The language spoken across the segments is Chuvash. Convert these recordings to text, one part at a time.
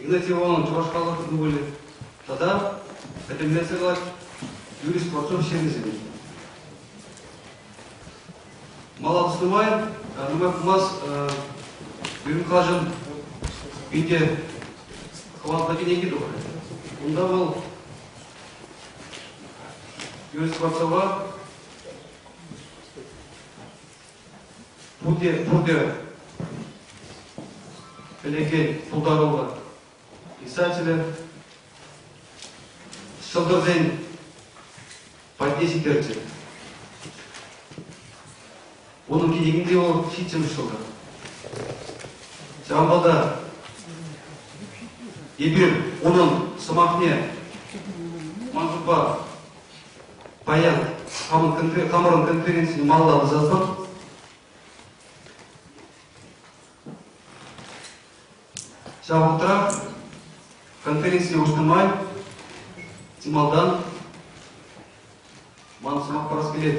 Игнатьев Ивановӑн чӑваш халӑхӗ ывӑлӗ тата пӗтӗмлетсе калать юрисконсорт ҫемӗсене. Мала тӑснӑ май Радмай пулмас Юринккашӑн пинте хӑвалта кӗнеки тухрӗ. Унта вӑл Юрий Скворцова Пурте, пурте пӗлекен пултаруллӑ писателӗ ҫӑлтӑрсен патне ҫитерчӗ. Унӑн кӗнекинче вӑл ҫиччӗмӗш ҫӑлтӑр. Ҫавӑнпа та эпир унӑн сӑмахне ман шутпа Паян хамӑрӑн конференцине малалла тӑсатпӑр. Ҫав вӑхӑтрах конференцине уҫнӑ май малтан ман сӑмах парас килет.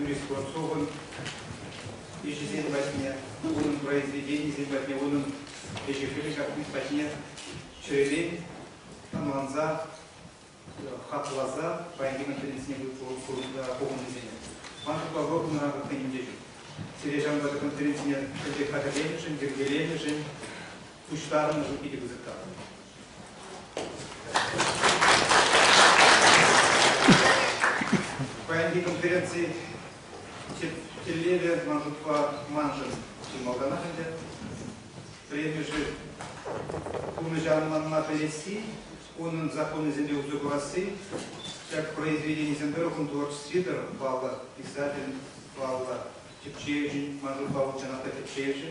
Юрий Скворцовӑн ӗҫӗсен патне, унӑн произведенийӗсен патне, унӑн ӗҫӗ-хӗлӗ ҫакни патне чӗререн ӑнланса, хакласа паянхи кун тенденцине пухӑннисене. Ман ҫукла вӑрӑмна хӑйӗнчен. Сире ҫавӑнпа конференцине хатӗрленӗшӗн, йӗркеленӗшӗн пуҫтарӑннӑшӑн питӗ пысӑк тав. Паянхи конференци тӗллевӗ, ман шутпа, маншӑн чи малтанах ӗнтӗ. Премишӗ пурнӑҫа ӑнланма пӗлесси, унӑн законӗсемпе усӑ курасси, ҫак произведенисем тӑрӑхӑн творчестви тӑрӑх паллӑ писатель, паллӑ Тӗпчевҫӗн, ман шутлав укҫана та тӗпчевҫӗ,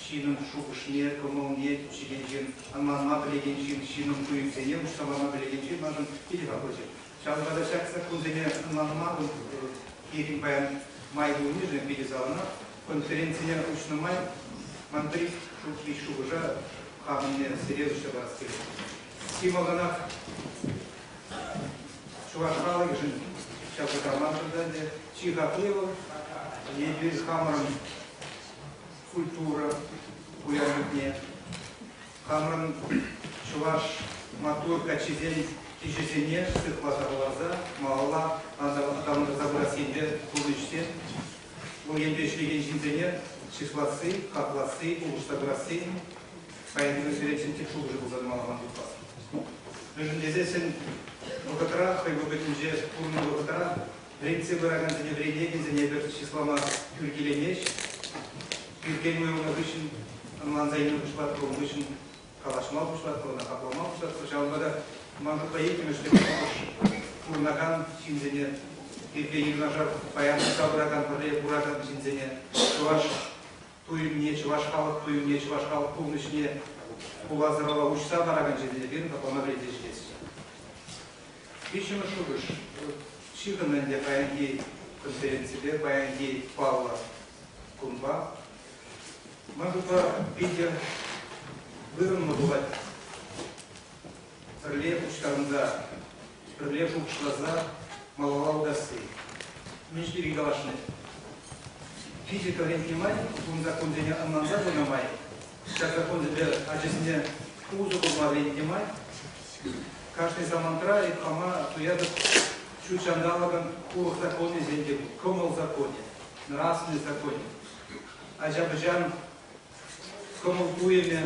ҫынӑн шухӑшне, кӑмӑлне, тӗпчекенҫин, ӑнланма пӗлекен ҫын, ҫынӑн туйӑмсене уҫса пама пӗлекен ҫын маншӑн питӗ хаклӑччӗ. Ҫавӑнпа та ҫак саккунсене ӑнланма вӑл тихӗн паян май пулнишӗн питӗ савӑнать. Конференцине уҫнӑ май ман пӗр ҫулхи шухӑша хамӑнне сире уҫса парас килет. Чи малтанах Чӑваш халӑхӗшӗн ҫав кӑтартман ӗнтӗ. Чи хакли вӑл, эпир хамӑрӑн культура пуянлӑхне, хамӑрӑн чӑваш маттур каччисен киҫӗсене сыхласа хӑварса малалла аталантарса пырас енпе пурнӑҫсем, вӑл енпе ӗҫлекен ҫынсене чысласси, хакласси, улӑштарасси строительство сферинчен тек шухӑшӗ пулса тӑмалла ман шутпа. Мӗншӗн тесессӗн вӑхӑтра хӑй вӑхӑтӗнче пурӑннӑ вӑхӑтра лекцие пыракансене вӗренекенсене эпир чыслама тӳр килеймест. Тӳркен уйрӑлнӑ хыҫҫӑн ӑнланса илме пуҫлатпӑр, ун хыҫҫӑн калаҫма пуҫлатпӑр, ӑна хаклама пуҫлатпӑр. Ҫавӑнпа та ман шутпа иккӗмӗш пурӑнакан ҫынсене, пирки юнашар паян тытса пыракан, пӗрле куракан ҫынсене чӑваш туйӑмне, чӑваш халӑх туйӑмне, чӑваш халӑх пурнӑҫне хула сӑрала уҫса паракан ҫемьесем тапама пӗлтерӗшлеҫҫӗ. Виҫҫӗмӗш шухӑш, ҫыхӑннӑ ӗнтӗ паянхи конференципе, паянхи паллӑ кунпа. Ман шутпа, питӗ вырӑнлӑ пулать пӗрле пуҫтарӑнса пӗрле шухӑшласа малалла утасси мӗн пирки калаҫни. Физика вӗрентнӗ май, ун законсене ӑнланса пынӑ май, ҫак законсемпе ачасене усӑ курма вӗрентнӗ май, кашни самантра айӑплама туятӑп ҫут ҫанталӑкӑн урӑх законӗсен те пур, кӑмӑл законӗ, нравственный законӗ, ача-пӑчан кӑмӑл-туйӑмӗ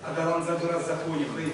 аталанса пырас законӗ хӑй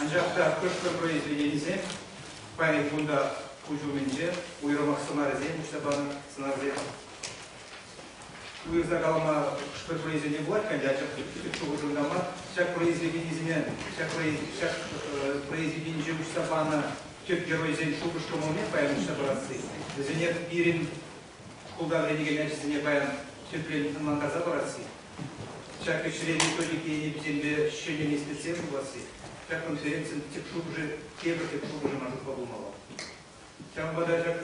Анчах та хӑш-пӗр произведенисем паян кунта куҫ умӗнче уйрӑмах сӑнарӗсем уҫса панӑ сӑнарсем. Уйӑрса калама хӑш-пӗр произведени пулать, анчах шухӑшӑм та мар. Ҫак произведенисене, ҫак произведенинче уҫса панӑ тӗп геройсен шухӑш-кӑмӑлне паян уҫса парасси, вӗсене пирӗн шкулта вӗренекен ачасене паян тӗпрен ӑнлантарса парасси, ҫак ӗҫре методика енӗписемпе ҫӗнӗ меслетсем пуласси ҫак конференцин тӗп шухӑшӗ тепӗр тӗп шухӑшӗ маршрутпа пулмалла. Ҫавӑнпа та ҫак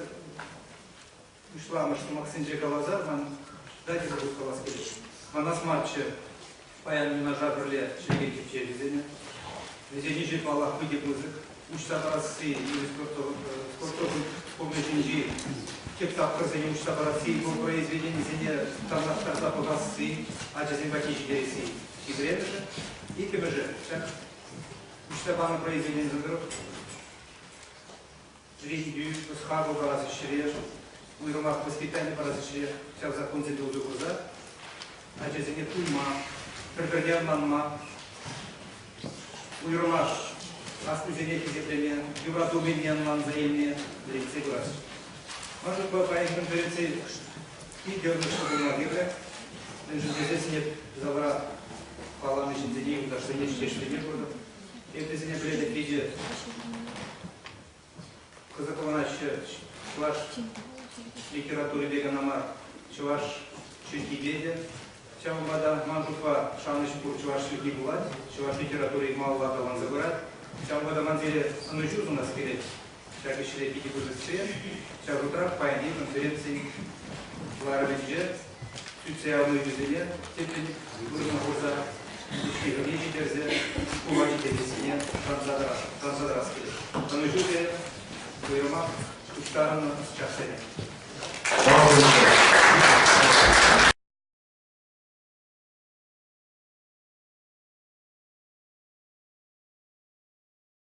пуҫламӑш сӑмахсенче каласа ман читательство калас килет. Манас марччӗ, Паян юнашар пӗрле ҫемье тӗпчевҫисене. Вӗсен ӗҫӗ, паллах, питӗ пысӑк. Уҫса парасси, спортсовӑй клубӗ ҫинчи тӗп тапхӑрсене уҫса парасси, по произведенисене танлаштарса пӑхасси, ачасем патне ҫитересси хитре-мӗшӗ. Иккӗмӗшӗ, ҫак уҫса панӑ произведенисем тӑрӑх Вӗрентӳ, ӑс-хакӑл парас ӗҫре, уйрӑмах воспитани парас ӗҫре ҫав законсемпе усӑ курса ачасене туйма, пӗр-пӗрне ӑнланма, уйрӑмах аслисене хисеплеме, юратӑвӗсене ӑнланса илме вӗрентсе пырас. Мӑшӑрпа паянхи конференци питӗ ырӑҫлӑ пулма кирлӗ, мӗншӗн тесен ӗнер залра палланӑ ҫынсене, юлташсене ӗҫлеме куртӑм. Эпӗ сине пӗлетӗп питӗ кӑсӑкланаҫҫӗ чӑваш литературипе кана мар, чӑваш чӗлхипе те. Ҫавӑнпа та ман шутпа шанӑҫ пур чӑваш чӗлхи пулать, чӑваш литератури малалла аталанса пырать. Ҫавӑнпа та ман сире ӑнӑҫу сунас килет. Ҫак ӗҫре икӗ вырӑссем ҫав шутра паянхи конференцин кӑларӑмӗнче сӳтсе явнӑ ӳчӗсене тӗплӗн вырӑна хурса ҫыхӑне ҫитерсе шкула ҫитессине шанса тӑрас килет. Ӑнӑҫу сирӗн уйрӑмах пуҫтарӑннӑ ӑсчахсене.